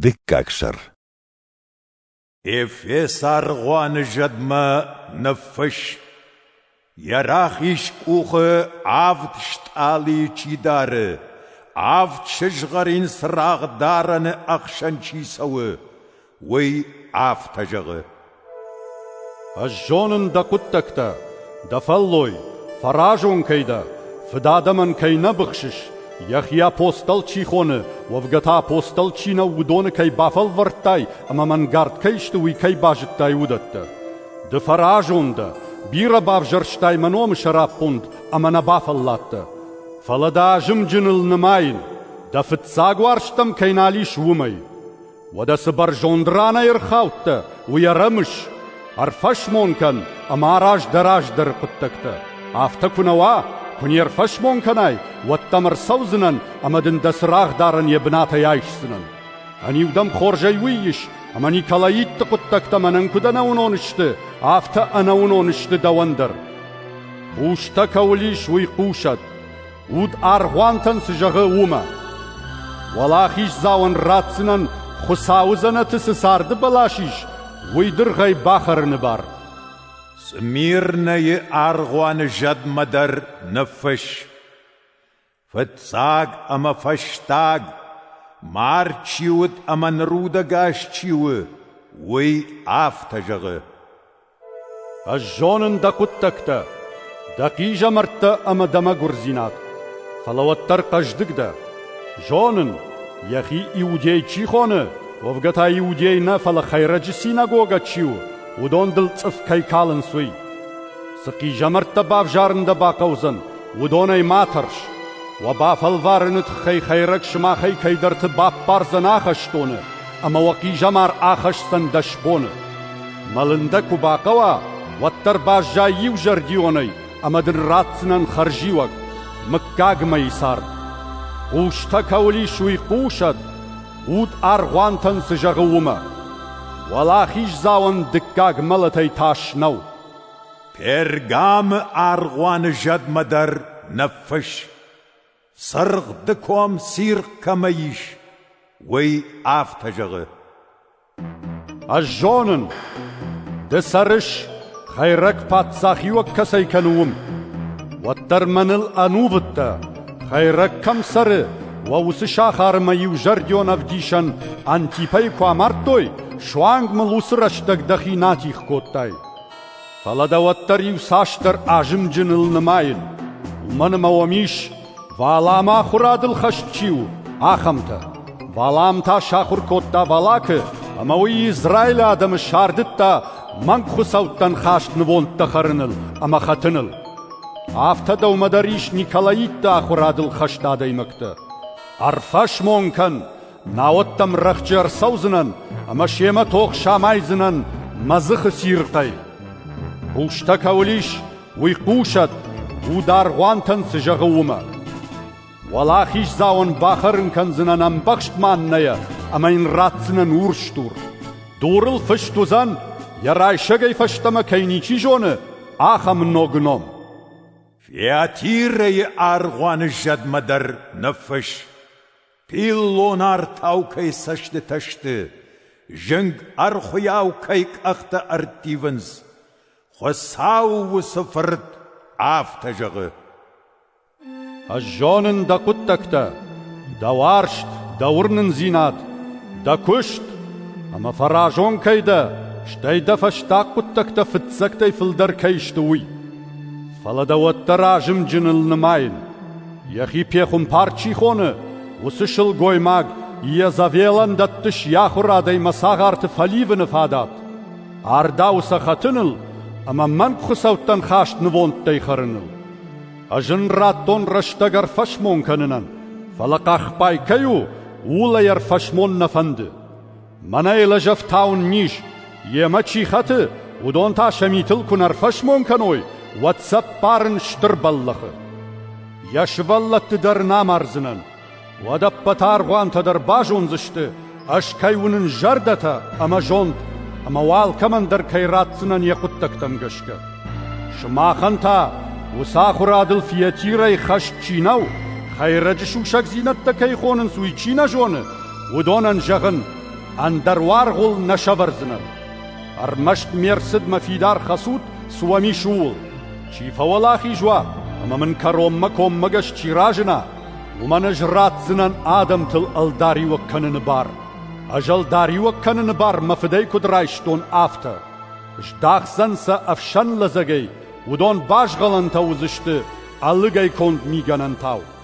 Дыккаг сӕр Эфес аргъуаны зӕдмӕ ныффыст Йӕ рахиз къухы авд стъалыйы чи дары, авд сызгъӕрин цырагъ дарӕны ӕхсӕн чи цӕуы, уый афтӕ зӕгъы: Ӕз зонын дӕ хъуыддӕгтӕ, дӕ фӕллой, фӕразон кӕй дӕ, фыд адӕмӕн кӕй нӕ быхсыс, йӕхи апостол чи хоны, уӕвгӕ та апостол чи нӕу, уыдоны кӕй бафӕлвӕрдтай ӕмӕ мӕнгард кӕй сты, уый кӕй базыдтай, уыдӕттӕ. Ды фӕразон дӕ, бирӕ бавзӕрстай мӕ номы сӕраппонд ӕмӕ нӕ бафӕлладтӕ. Фӕлӕ дӕ азымджыныл нымайын, дӕ фыццаг уарзтӕм кӕй нал ис, уымӕй. Уӕдӕ цы бӕрзонд ранӕй ӕрхаудтӕ, уый ӕрӕмыс, ӕрфӕсмон кӕн ӕмӕ араз дӕ раздӕры хъуыддӕгтӕ. Афтӕ куы нӕ уа, куы не рфӕсмон кӕнай, уӕд дӕм ӕрцӕудзынӕн ӕмӕ дын дӕ цырагъдарӕн йӕ бынатӕй айсдзынӕн. Ӕниу дӕм хорзӕй уый ис, ӕмӕ николаитты хъуыддӕгтӕ мӕнӕн куыд ӕнӕуынон сты, афтӕ ӕнӕуынон сты дӕуӕн дӕр. Бустӕ кӕуыл ис, уый хъусӕд. Уд аргъуантӕн цы зӕгъы, уымӕ. Уӕлахиздзауӕн ратдзынӕн Хуыцауы дзӕнӕты цы царды бӕлас ис, уый дыргъӕй бахӕрыны бар. Смирнӕйы аргъуаны зӕдмӕ дӕр ныффысс. Фыццаг ӕмӕ фӕстаг, мард чи уыд ӕмӕ нырудӕгас чи у, уый афтӕ зӕгъы. Ӕз зонын дӕ хъуыддӕгтӕ, дӕ хъизӕмӕрттӕ ӕмӕ дӕ мӕгуырдзинад. Фӕлӕ уӕддӕр хъӕздыг дӕ. Зонын, йӕхи иудей чи хоны, уӕвгӕ та иудей нӕ, фӕлӕ Хӕйрӕджы синагогӕ чи у, уыдон дыл цъыф кӕй калынц, уый. Цы хъизӕмӕрттӕ бавзарын дӕ бахъӕудзӕн, уыдонӕй ма тӕрс. Уӕ бафӕлварыны тыххӕй Хӕйрӕг сымахӕй кӕйдӕрты баппардзӕн ахӕстоны, ӕмӕ уӕ хъизӕмар ахӕсдзӕн дӕс боны. Мӕлын дӕ куы бахъӕуа, уӕддӕр баззай иузӕрдионӕй ӕмӕ дын ратдзынӕн хӕрзиуӕг, мыггаг мӕйы цард. Хъустӕ кӕуыл ис, уый хъусӕд, уд аргъуантӕн цы зӕгъы, уымӕ. Уӕлахиздзауӕн дыккаг мӕлӕтӕй тас нӕу. Пергамы аргъуаны зӕдмӕ дӕр ныффысс, цыргъ ды ком цирхъ кӕмӕ ис, уый афтӕ зӕгъы: Ӕз зонын, ды цӕрыс, хӕйрӕг паддзахиуӕг кӕцӕй кӕны, уым. Уӕддӕр мӕныл ӕнувыдтӕ, хӕйрӕг кӕм цӕры, уӕ уыцы сахармӕ иузӕрдион ӕвдисӕн Антипӕйы куы амардтой, суанг мыл уыцы рӕстӕг дӕхи натих кодтай. Фӕлӕ дӕ уӕддӕр иуцасдӕр азымджыныл нымайын, уымӕн ӕмӕ уӕм ис, Валамы ахуырадыл хӕст чи у, ахӕмтӕ. Валам та сахуыр кодта Валакы, ӕмӕ уый Израилы адӕмы сардыдта мӕнгхуыцӕуттӕн хаст нывондтӕ хӕрыныл ӕмӕ хӕтыныл. Афтӕ дӕумӕ дӕр ис николаитты ахуырадыл хӕст адӕймӕгтӕ. Ӕрфӕсмон кӕн, Науӕд дӕм рӕхджы ӕрцӕудзынӕн ӕмӕ семӕ тох самайдзынӕн мӕ дзыхы цирхъӕй. Хъустӕ кӕуыл ис, уый хъусӕд, уд аргъуантӕн цы зӕгъы, уымӕ. Уӕлахиздзауӕн бахӕрын кӕндзынӕн ӕмбӕхст маннӕйӕ ӕмӕ йын ратдзынӕн урсдур. Дурыл фыст уыдзӕн, йӕ райсӕгӕй фӕстӕмӕ кӕй ничи зоны, ахӕм ног ном. Фиатирӕйы аргъуаны зӕдмӕ дӕр ныффысс. Пиллон артау кӕй цӕстытӕ сты, зынг ӕрхуыйау кӕй къӕхтӕ ӕрттивынц, Хуыцау уыцы фырт афтӕ зӕгъы. Ӕз зонын дӕ хъуыддӕгтӕ, дӕ уарзт, дӕ уырнындзинад, дӕ куыст, ӕмӕ фӕразон кӕй дӕ, стӕй дӕ фӕстаг хъуыддӕгтӕ фыццӕгтӕй фылдӕр кӕй сты, уый. Фӕлӕ дӕ уӕддӕр азымджыныл нымайын. Йӕхи пехуымпар чи хоны, уыцы сылгоймаг йӕ Завелӕн дӕттыс йӕ ахуырадӕй мӕ цагъарты фӕливыны фадат. Ардау сӕ хӕтыныл ӕмӕ мӕнгхуыцӕуттӕн хаст нывондтӕй хӕрыныл. Ӕз ын радтон рӕстӕг ӕрфӕсмон кӕнынӕн, фӕлӕ хъахбай кӕй у, ууыл ӕй ӕрфӕсмон нӕ фӕнды. Мӕнӕ лӕжӕфтау ын низ, йемӕ чи хӕты, уыдон та сӕ митыл куы нӕ ӕрфӕсмон кӕной, уӕд цӕппарын стыр бӕллӕхы. Йӕ сывӕллӕтты дӕр нӕ амардзынӕн. Уӕд ӕппӕты аргъуантӕ дӕр базондзысты, ӕз кӕй уынын зӕрдӕтӕ ӕмӕ зонд, ӕмӕ уӕ алкӕмӕн дӕр кӕй ратдзынӕн йӕ хъуыддӕгтӕм гӕсгӕ. Сымахӕн та, уыцы ахуырадыл фиатирӕй хӕст чи нӕу, хӕйрӕджы сусӕгдзинӕдтӕ кӕй хонынц, уый чи нӕ зоны, Уыдонӕн зӕгъын, ӕндӕр уаргъыл нӕ сӕвӕрдзынӕн. Ӕрмӕст ме рцыдмӕ фидар хӕцут, цы уӕм ис, ууыл. Чи фӕуӕлахиз уа, ӕмӕ мын кӕронмӕ коммӕгӕс чи разына, уымӕн ӕз ратдзынӕн адӕмтыл ӕлдариуӕг кӕныны бар. Ӕз ӕлдариуӕг кӕныны бар мӕ фыдӕй куыд райстон, афтӕ. Здахдзӕн сӕ ӕфсӕн лӕдзӕгӕй, уыдон базгъалӕнтӕ уыдзысты ӕлыгӕй конд мигӕнӕнтау.